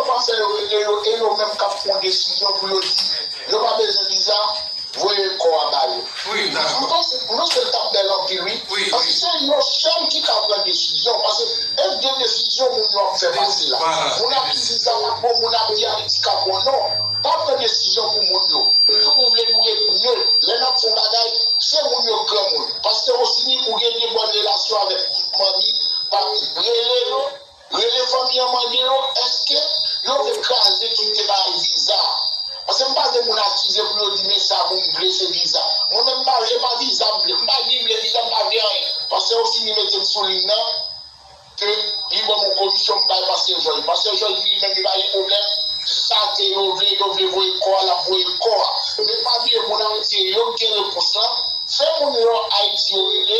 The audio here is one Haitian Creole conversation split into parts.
Pansè yo rele yo e yo menm kap pwan desizyon pou yo di yo pa bezwen viza voye kò a ba yo m panse non sèl tap bèl anpil wi paske se yo sèl ki ka pran desizyon paske et gen desizyon moun yo ap fè pase la moun ap di viza pa bon moun ap di ayiti ka bon non pa pran desizyon pou moun yo nou tout nou vle nou ret neut lè nap fon bagay se moun yo granmoun paske rosini ou gen de bòn relasyon avèk tout manmi papi rele yo Rele fanmi an mande yo eske yo vle kraze kite bagay viza paske m pa vle moun akize pou yo di men sa moun vle se viza mwen menm m pa vle e pa viza m vle m pa ni vle viza m pa vle anyen paske yo fini mete m sou liy nan ke li banm yon komisyon m bay pastè jòj pastè jòj di li menm li pa gen pwoblèm sa ke yo vle yo vle voye kò a l ap voye kò a men pa bliye moun ayiti e yo k gen repons lan fè moun yo ayiti yo rele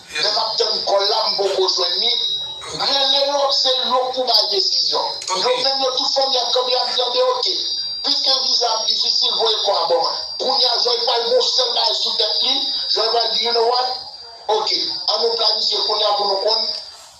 Lè map tann kòl la m poko jwenn li, rele yo se yo pou bay desizyon. Yo menm yo tout fanmi ak kanmi ap vyande ok. Piske viza ap difisil voye kò a ban mwen. Kounya Joy pral gen yon sèl bagay sou tèt li, Joy pral di you know what? Ok, an nou planifye kounya pou nou konn.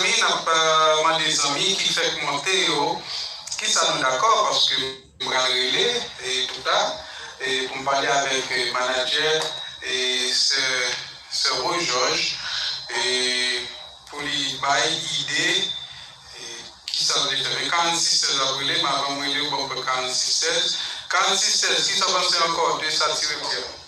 Zanmi nap mande zanmi ki fèk monte yo kisa nou dakò paske m pral rele pou ta pou m pale avèk manadjè sè Rose George pou li bay ide kisa l vle fè men 46 16 ap rele m avan m rele w banm pran 46 16 46 16 kisa w panse ankò de sa ti rev di a.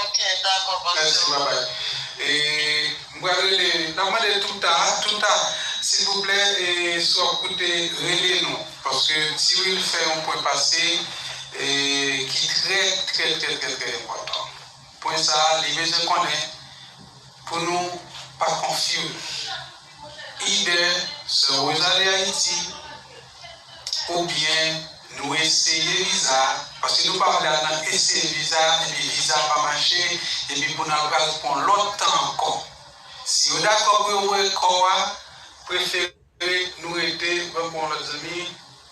Ok dako bonsw. Merci bye bye e m pral rele nap mande touta touta silvouplè e si wap koute rele nou paske ti wil fè yon pwen pase e ki trè trè trè trè trè enpòtan pwen sa li bezwen konnen pou nou pa konfuse. Ide Sè Rosalie Haiti ou byen nou eseye viza paske nou pa vle al nan eseye viza epi viza pa mache epi pou nan pral pwan lòt tan ankò si yo dakò pou yo voye kò a prefere nou rete mwen pwan lòt zanmi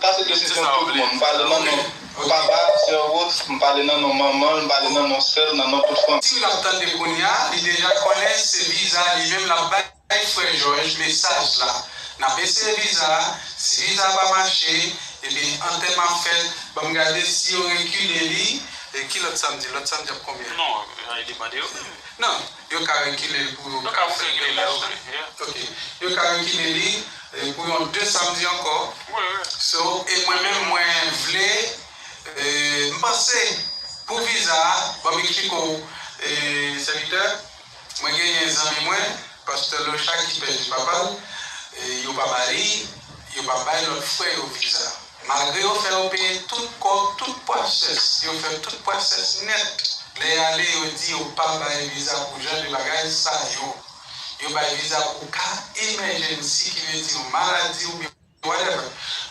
Sa se desizyon tout moun. M pale nan non papa, sè Rose, m pale nan non manman l, m pale nan non sè l, nan non tout fanmi. Sim ap tande kounya li deja konnen se viza li menm lap bay frè jòj mesaj la nap eseye viza si viza pa mache ebyen antèman ap fèt banm gade si yo rekile li e ki lòt samdi lòt samdi ap konbyen non li mande yo menm nan. Yo ka rekile l pou yon konsève lè yo vle. Ok. Yo ka rekile li pou yon 2 samdi ankò. So, e mwen menm mwen vle, m panse pou viza a, ban m eksplike w sèvitè, mwen genyen zanmi mwen, pastè Lochard ki pèdi papa l, yo pa ba li, yo pa bay lòt frè yo viza. Malgre yo fè yo peye tout kòb tout pwasès yo fè tout pwasès nèt lè yale yo di yo pa bay viza pou jan de bagay sa yo yo bay viza pou ka emèjènsi ki vle di yon maladi oubyen whatever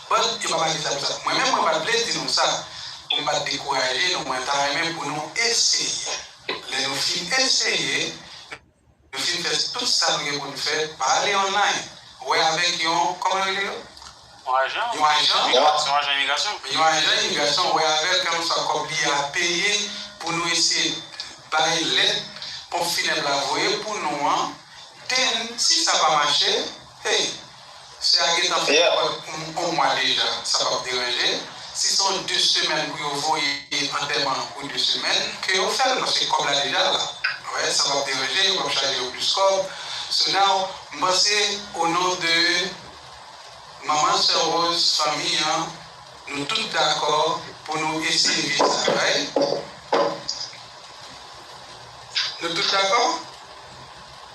but yo pa bay viza pou sa mwen menm mwen pat vle di nou sa pou m pat dekouraje nou mwen ta renmen pou nou eseye lè nou fin eseye Nou fin fè tout sa nou gen pou n fè, pa ale online, wè avèk yon, kòman yo rele yo? Yon ajan? Yon ajan? Yon ajan imigrasyon? Yon ajan imigrasyon, wè avè l, kèlkeswa sa kòb li a peye, pou nou eseye bay lèt ponp finèb la voye pou nou an, den, si sa pa mache, hey, Si a gentan fè kòd pou nou on mwa deja sa pap deranje, si se on 2 semèn pou yo voye antèman pou 2 semèn ke yo fèl paske kòb la deja la ou wè sa pap deranje yo pap chaje yo plis kòb so now m panse o non de manman sè Rose fanmi an nou tout dakò pou nou eseye viv sa right nou tout dakò?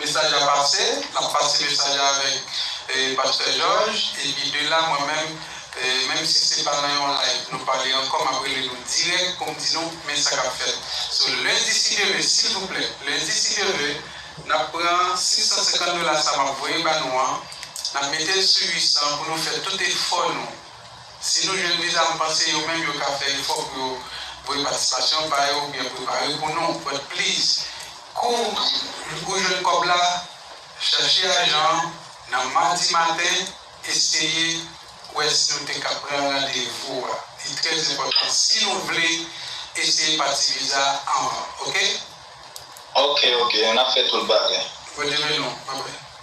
Mesaj la pase, nap pase mesaj la avèk Pastè Jòj epi de la mwen menm menm si se pa nan yon live nou pale ankò map rele nou dirèk poum di nou men sa kap fèt so lendi si Dye ve silvouplè lendi si Dye ve nap pran 650 dola sa map voye ba nou an nap metel sou 800 pou nou fè tout efò nou Si nou jwenn viza m panse yo menm yo ka fè efò pou yo voye patisipasyon pa yo oubyen prepare pou nou but please kou ou jwenn kòb la chache ajan an nan madi maten eseye wè si nou te ka pran randevou a li trè enpòtan si nou vle eseye pati viza anvan ok. Ok ok nap fè tout bagay. Bondye beni w bye bye.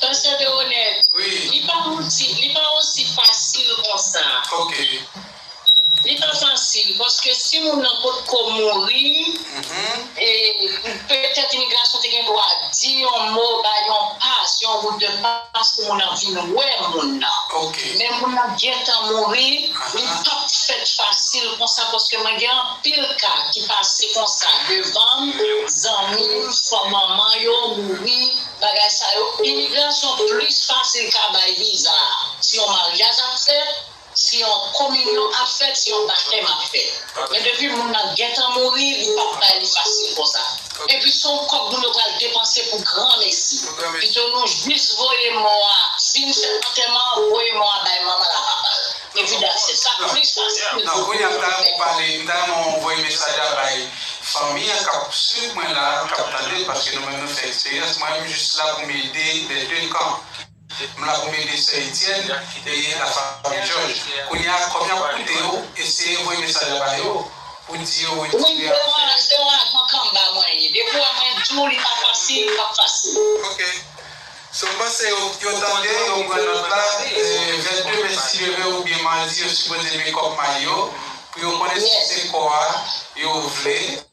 Pasteur Deroneth, li pa osi, li pa osi fasil konsa. Ok. Li pa fasil, paske si moun nan potko mouri, e petèt imigrasyon te gen dwa di yon mo, bay yon pas, yon route de passe pou moun nan vin wè moun nan. Ok. Men moun nan gentan mouri. Li pap fèt fasil konsa paske mwen gen anpil ka ki pase konsa devanm zanmim fo manman yo mouri bagay sa yo imigrasyon plis fasil ka bay viza si yon maryaj ap fèt si yon kominyon ap fèt si yon batèm ap fèt men depi moun nan gentan mouri li pap bay li fasil konsa. Epi son kòb moun yo pral depanse pou granmesi. Pito nou jis voye mò a si nou fè antèman an voye mò a bay manmanl a papal. Epi dat se sa plis pase tout moun pou nou fè konnen. M ta renmen w voye mesaj la bay fanmi an kap swiv mwen la kap tandem paske nou menm nou fè eksperyans mwen m jis la pou m ede les deux camps. M la pou m ede sè Etienne e la fanmi Jòj. Kounye a, kòb yo ap koute yo, eseye voye mesaj la ba yo pou di yo wetire afè yo. Wi, se yon se yon ajan kanmba mwen ye. Depi w wè mwen di w li pa fasil, li pap fasil. Ok. So w panse yo tande, yo pran nòt la, 22 me si yo vle oubyen madi yo sipoze make up may yo pou yo konnen si se kò a yo vle.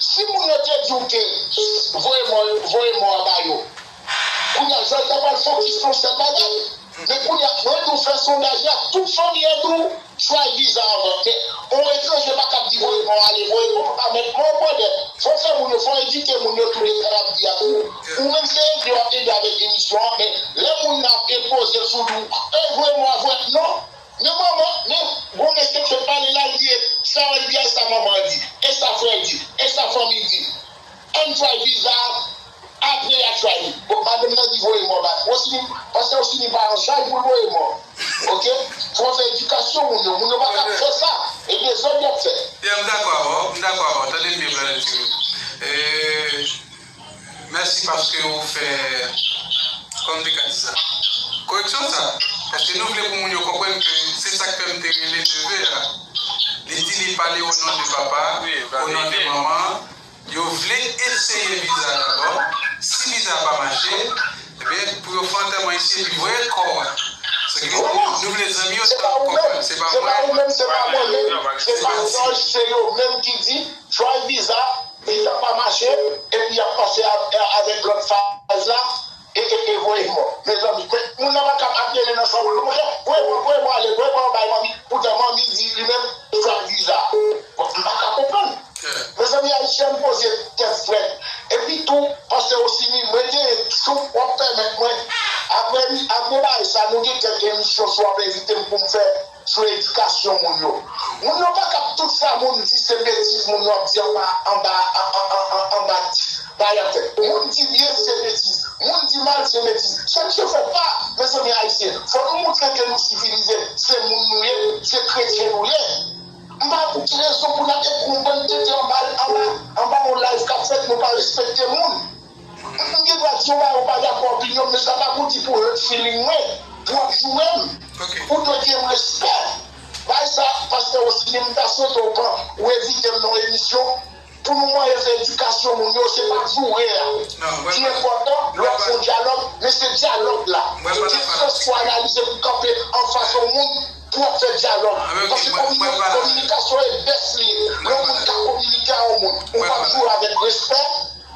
Si moun yo te diw ke voye mò yo voye mò a ba yo kounya jan ta pral fokis son sèl bagay men kounya mwen diw fè sondaj la tout fanmi an diw try viza avan men on etranje paka di voye mò ale voye mò pa met mò brother fò fè moun yo fò edike moun yo tou de sa nap di a tou ou menm se ede wap ede avèk emisyon an men lè moun nan ap enpozel sou diw ey voye mò a voye non. Nan manman nan gwo mesye k fè pale la li ye sa wèl di a sa manman an di e sa frèl di e sa fanmiy di ann try viza a apre ya try li bon madanm nan di voye mò bay Rosini pase Rosini pa yon chay poul voye mò ok fò fè edikasyon moun yo moun yo paka ap fè sa e dezòd yap fè. Ya m dakò avè w, m dakò avè w, tande m byen Brother Jimmy. E. Mèsi paske ou fè konn te ka di sa. Koreksyon sa, paske nou vle pou moun yo konprann ke se sak fè m te rele neve a, li di li pale o non de papa, o non de manman, yo vle eseye viza dabò, si viza a pa mache, ebyen pou yo fè antèman isi epi voye kò a. Se ke nou vle zanmi yo ta konprann, se pa mwen, se pa Manno, se pa Jòj, se yo menm ki di, try viza, Visa pa mache epi yap pase avek lot faz la eee voye mò mezanmi men moun nan pakab ap rele nan chanm li monchè voye mò voye mò ale voye mò bay manmi poutan manmi di li menm li pran visa bon m paka konprann mezanmi ayisyen poze tèt frèt epi tou pase ou sini mwen genyen jou wap pèmèt mwen aprè aprè bay sa nou gen kèk emisyon si wap envitem poum fè Sou edikasyon moun yo. Moun yo pa kap tout sa moun di se betiz moun yo ap di anba anba anba dayè tè. Moun di byen se betiz. Moun di mal se betiz. Chèche fè pa mezanmi ayisyen fò nou moutre ke nou sivilize se moun nou ye se kretyen nou ye. M pa wè pou ki rezon pou nap ekri yon bann tenten anba anba yon live kap fèt nou pa respekte moun. Mwen gen dwa di ou bagay ou pa dakò opinyon m men sa pa pou di pou hurt feeling mwen, pou wap joure m. Ou dwe gen respè. Bay sa pastè Rosiny m ta swete w pran ou envite m nan yon emisyon pou nou manyen fè edikasyon moun yo se pa joure a ki enpòtan lè wap fè yon dyalòg men se dyalòg la gen sans pou analize pou kanpe anfas yon moun pou wap fè dyalòg paske kominikasyon e best li ye lè yon moun ka kominike a yon moun ou pap joure avèk respè.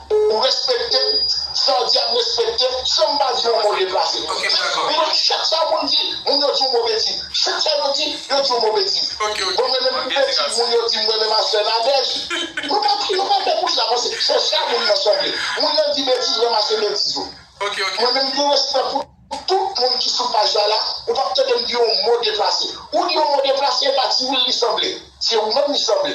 Ou respekte m, sa w di a m respekte l, san m pa di yon mo deplase. Li di chak sa moun di, moun yo di yon mo betiz. Chak sa yo di, yo di yon mo betiz. Bon mwen menm pou betiz moun yo di m mwen menm ak sè Nadège, nou pa kriye pa tè pou sa paske se sa moun nan sanble. Moun nan di betiz ranmase betiz ou. Mwen menm m gen respè pou tout moun ki sou paj la la, ou pap tande m di yon mo deplase. Ou di yon mo deplase e pa ti wi l li sanble. Se ou menm li sanble.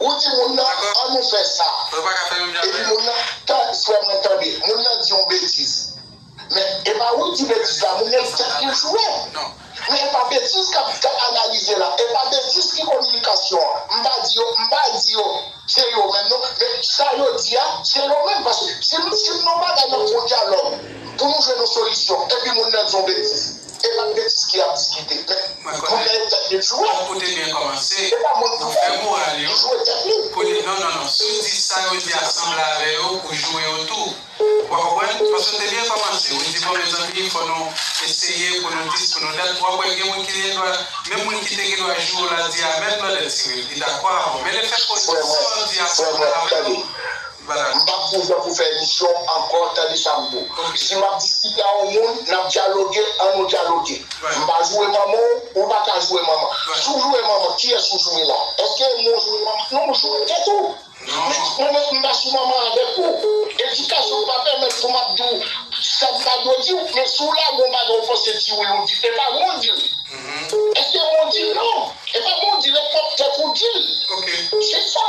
Ou di moun nan an nou fè sa. Epi moun nan, tande frè mwen tande, moun nan di yon betiz. Men e pa ou di betiz la, moun nan tèt li jwe. Men e pa betiz k ap analize la, e pa betiz ki kominikasyon an. M pa di yo, m pa di yo se yo menm non, men sa yo di a se yo menm. Paske si m si m nan bagay nan fon dyalòg pou nou jwenn yon solisyon epi moun nan di yon betiz. E pa betiz ki ap diskite men li konnen yo tèt li jwe. Bon kote gen komanse nou fè moral yo kote non non non siw di sa yo di a sanble avè yo ou joure yo tou ou pa konprann paske nou te byen komanse ou di bon mezanmi fò nou eseye pou nou dis pou nou dat wap wè gen moun ki gen dwa menm moun ki te gen dwa joure la di a menm blòdè tirel li dakò avèw men lè fè koz di sa yo di a sanble avèw Madam, m pap gen tan pou fè emisyon ankò tande sa m pou. Si m ap diskite a yon moun, n ap dyaloge, an nou dyaloge. M pa joure manman w, ou pa ka joure manman. Si w joure manman, kiyès ou joure la? Èske e mwen w joure manman? Non, ou joure tèt ou. Men, mwen menm, m pa sou manman avèk ou. Edikasyon m pa pèmèt pou m ap di w sa m pa dwe di w. Men, si w lage yon bagay ou panse di wi, ou di, e pa mwen w di l. Èske e mwen w di l? Non, e pa mwen w di l, e pwòp tèt ou w di l. Se sa.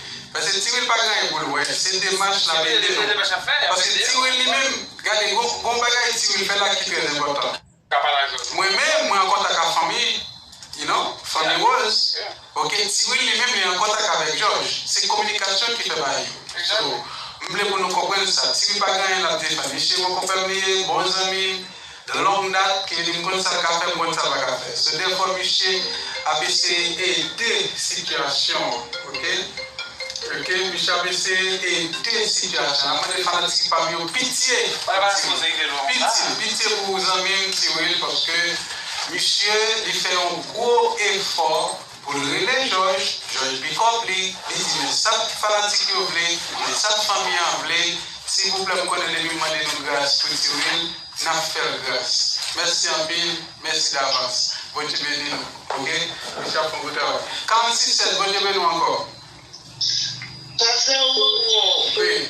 Paske Ti Wil pa gen anyen pou l wè, se demach n ap ede nou. Paske Ti Wil li menm, gade gon bagay Ti Wil fè la ki trè enpòtan. Mwen menm, mwen an kontak ak fanmi, you know, fanmi Woz, ok, Ti Wil li menm li an kontak avèk Jòj. Se kominikasyon ki fè bagay yo. So, m vle pou nou konprann sa. Ti Wil pa gen anyen l ap defann. Misye bon konpè m li ye, bon zanmi m. De long dat ke li konn sa l ka fè, konn sa l pa ka fè. Se dèfwa misye ap eseye ede sitiyasyon an ok. Ok misye ap eseye ede sitiyasyon an. Map mande fanatik pam yo pitye pitye pitye pou zanmim T-Will paske misye li fè yon gwo efò Pou l rele Jòj, Jòj pikòp li, li di men sa fanatik yo vle, men sa fanmi an vle, silvouplè m konnen depi m mande nou gras pou Tiwil, n ap fè l gras. Mèsi anpil, mèsi davans. Bondye beni nou. Ok. Mesi anpil bon travay. 46 7 Bondye beni w ankò. Pase w bonjour. Wi.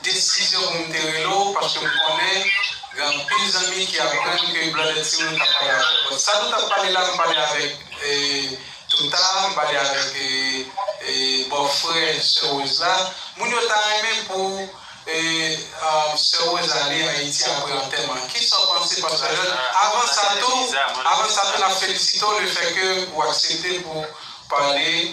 Desizyon pou m te rele w paske m konnen gen anpil zanmi ki aprann ke Blonded Timoun kap pale avè w. Bon, sa nou tap pale la m pale avèk Toota, m pale avèk bò frè sè Rose la. Moun yo ta renmen pou sè Rose ale Ayiti apre antèman an. Kisa w panse pastè Lòd? Avan sa tou, avan sa tou nap felisite w le fè ke ou aksepte pou pale.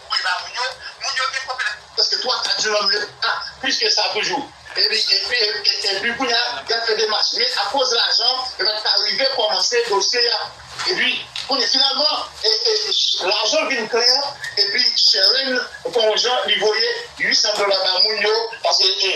Voye ba moun yo, moun yo gen pwoblèm. Prèske 3 kat jou nan menm leta, plis ke sa toujou. Epi kounye a, y ap fè demach. Men akoz lajan, yo pa t ka rive kòmanse dosye a. Epi kounye finalman, lajan vin klè epi Sherene fè yon jan li voye 800 dola ba moun yo paske.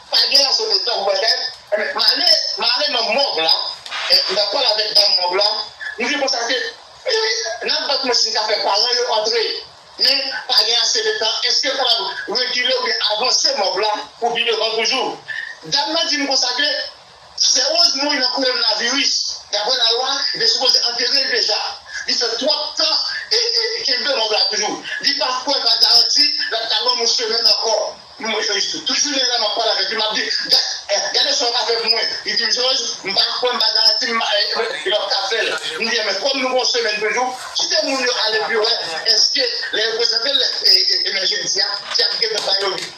Pa gen ase de tan pou bagay. Ebyen, m ale, m ale nan mòg la, m ta pale avèk dam mòg la, m vin konstate, wi, n ap bat mwen si m ka fè paran yo antre. Men, pa gen ase de tan. Èske m kapab rekile oubyen avanse mòg la pou pi devan toujou? Dam nan di m konsa ke. Serose mouri nan koronnavirus, daprè la lwa li te sipoze anterel deja, li fè twòp tan e kenbe mòg la toujou, li pa kwè pa garanti lap ka banm yon semèn ankò, tout jounen la map pale avèk li map di gade sa ou ka fè pou mwen, li dim Jòj m pa kwè m pa garanti m pap ka fèl, m di ebyen kòm nou gen yon semèn toujou kite moun yo ale epi wè èske lè yo prezantel lè jodi a si yap gentan bayo li.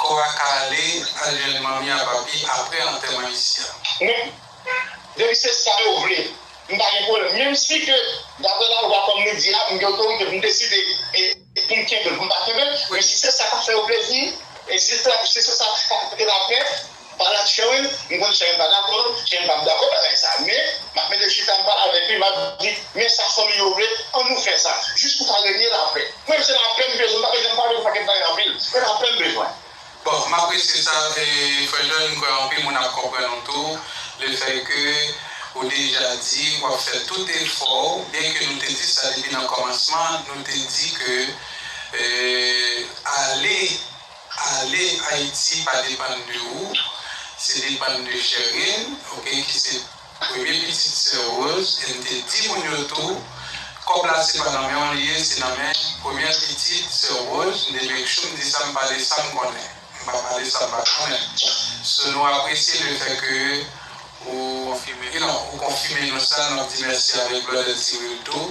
Kò a ka ale al jwenn manmi a papi apre antèman isi a. Mwen depi se sa yo vle m pa gen pwoblèm menm si ke daprè lalwa kòm li di a m gen otorite pou m deside pou m kenbe l pou m pa kenbe l men si se sa k ap fè yo plezi e si se sa k ap pote lapè. Pala t chen wi m konn chen pa dakò chen pap dakò bagay sa men map mete chita m pale avèk li map di men sa fanmi yo vle an nou fè sa jis pou ka renye lapè mwen m se lapè m bezwen m pa bezwen pale de pakèt bagay anpil se lapè m bezwen. Bon m apresye sa frè Jòn m kwè anpil moun ap konprann ou tou le fè ke ou deja di wap fè tout efò w byen ke nou te di sa depi nan kòmansman nou te di ke ale Ale ayiti pa depann de ou se depann de cherline ok ki se premye pitit sè rose em te di moun yo tou kòb la se pa nan menw li ye se nan men premyè pitit sè rose m te make sure m di sa m pale sam konnen m pa pale sam pa konnen so nou apresye le fè ke ou konfime nou sa nap di mèsi avèk blòdè cyril tou.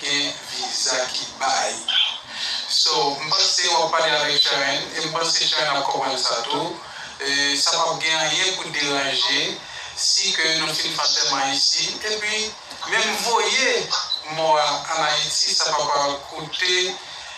Gen viza ki bay. So m panse wap pale avek Shaen e m panse Shaen ap konprann sa tou. Sa pap gen anyen pou deranje si ke nou fin fè antèman isi epi menm voye mò a an Ayiti sa pap koute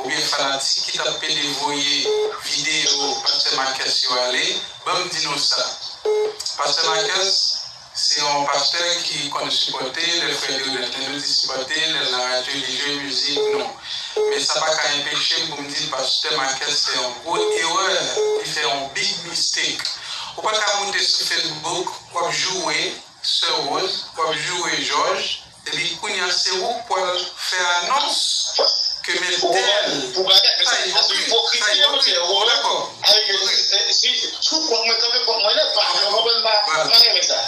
oubyen fanatik ki tap pede voye video pastè Marcus yo ale banm di nou sa pastè Marcus se yon pastè ki konn sipòte lèl fè Deodante nou di sipòte lèl nan radyo li jwe mizik nou men sa paka enpechem poum di pastè Marcus fè yon gwo erè li fè yon big mistake ou paka moute sou Facebook wap joure sè Rose wap joure Jòj Epi kounya se ou k pwal fè anons ke men tel tay ipokrit tay ipokrit ou pa dakò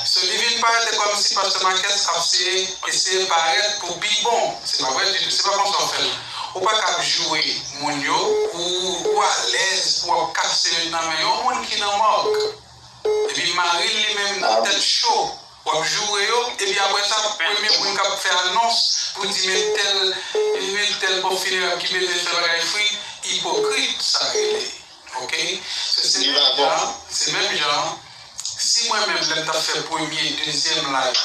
so li vin parèt se kòmsi pastè Marques ap seye eseye parèt pou pi bon se pa vre ditou se pa konsa ou fèl ou pa ka ap joure moun yo pou ou alèz pou wap kase nan men yon moun ki nan mòg. Epi maril li menm tèt cho wap joure yo epi aprè sa premye moun kap fè anons pou di men tèl men tèl ponp finerèb ki bezwen fè bagay fri ipokrit sa rele ok se se menm jan se menm jan si mwen menm lèm tap fè premye dezyèm live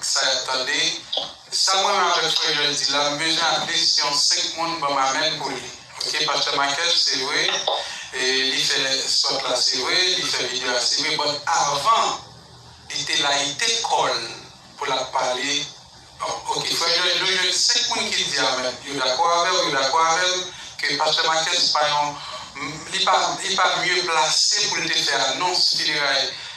Sa yap tande, sa mwen menm avèk frè Joel di la m bezwen atlis yon 5 moun banm amen pou li ok pastè Michael se vre li fè sòt la se vre li fè video a se vre but avan li te layite kòl pou lap pale ok frè Joel nou jwenn 5 moun ki di amen yo dakò avèw yo dakò avèm ke pastè Michael se pa yon li pa li pa mye plase poul te fè anons fineray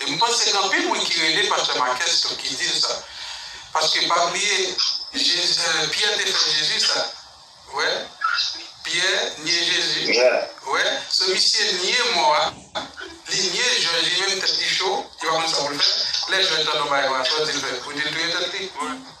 E m panse gen anpil moun ki rele pastè Marques tou ki di l sa. Paske pa bliye Jezi Pyè te fè Jezi sa. Wè? Pyè nye Jezi. Wè? So misye nye mò a, li nye Jòj li menm tèt li cho, li pa konn sa pou l fè. Lè Jòj tande w bagay konsa sa w di l fè? Pou di l touye tèt li?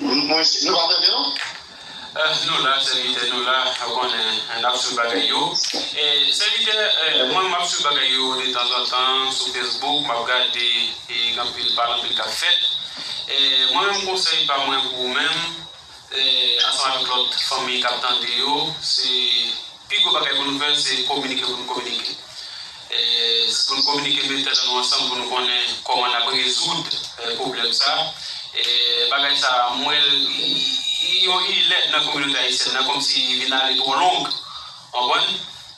Mwen isit nou pa tande non. Nou la sèvitè nou la ou konnen nap swiv bagay yo sèvitè mwen map swiv bagay yo detanzantan sou facebook map gade gen anpil pale anpil kap fèt mwen menm konsèy pa mwen pou ou menm ansanm avèk lòt fanmi kap tande yo se Pi gwo bagay pou nou fè se kominike pou nou kominike. Pou nou kominike mete tèt nou ansanm pou nou konnen kòman nap rezoud pwoblèm sa. Bagay sa mwen li yon ilèt nan kominote ayisyèn nan kòmsi li vin ale twò long konprann.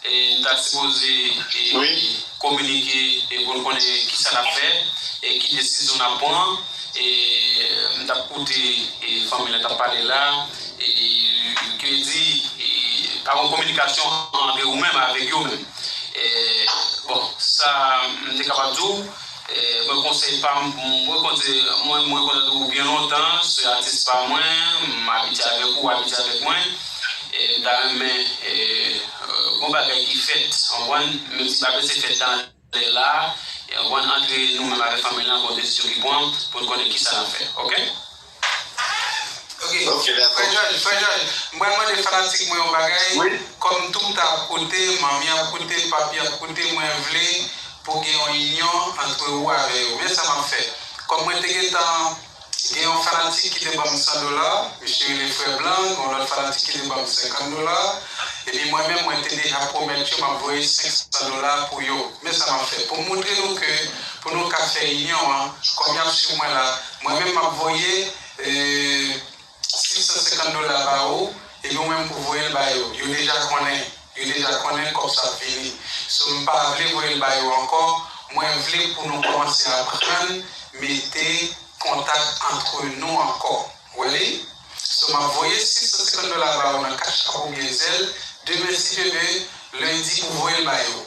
Nou ta sipoze kominike pou nou konnen kisa nap fè e ki desizyon nap pran. Mtap koute fanmi la kap pale la. Li te di, Pa gon kominikasyon antre ou menm avèk yo menm. Bon, sa m te kapab di w, mwen konsèy pa m, mwen konte, mwen konnen ou byen lontan, se atis pa mwen, m abitye avèk ou, ou abitye avèk mwen, m ta renmen gon bagay ki fèt, konprann, menm si pa prese fèt nan. Lè la a ou ann antre nou menm avèk fanmi lan bon desizyon ki pran pou n konnen kisa n ap fè ok. Frè Jòj, m pral mande fanatik mwen yon bagay, kòm tout a ap koute, manmi ap koute, papi ap koute, mwen vle pou gen yon inyon antre ou avè yo. Men sa m ap fè, kòm mwen te gentan. Gen yon fanatik ki te ban m 100 dola, misye rele Frè Blanc, gen yon lòt fanatik ki te ban m 50 dola, epi mwen menm mwen te deja pwomèt yo m ap voye 500 dola pou yo. Men sa m ap fè pou m montre nou ke pou nou ka fè inyon an, kòm y ap swiv mwen la, mwen menm m ap voye. 650 dola ba ou epi ou menm pou voyel ba yo, yo deja konnen, yo deja konnen kòb sa ap vini, so m pa vle voyel ba yo ankò, mwen vle pou nou kòmanse aprann mete kontak antre nou ankò wèy, so map voye 650 dola ba ou nan cash app oubyen zelle, demen si Dieu veut, lundi pou voyel ba yo.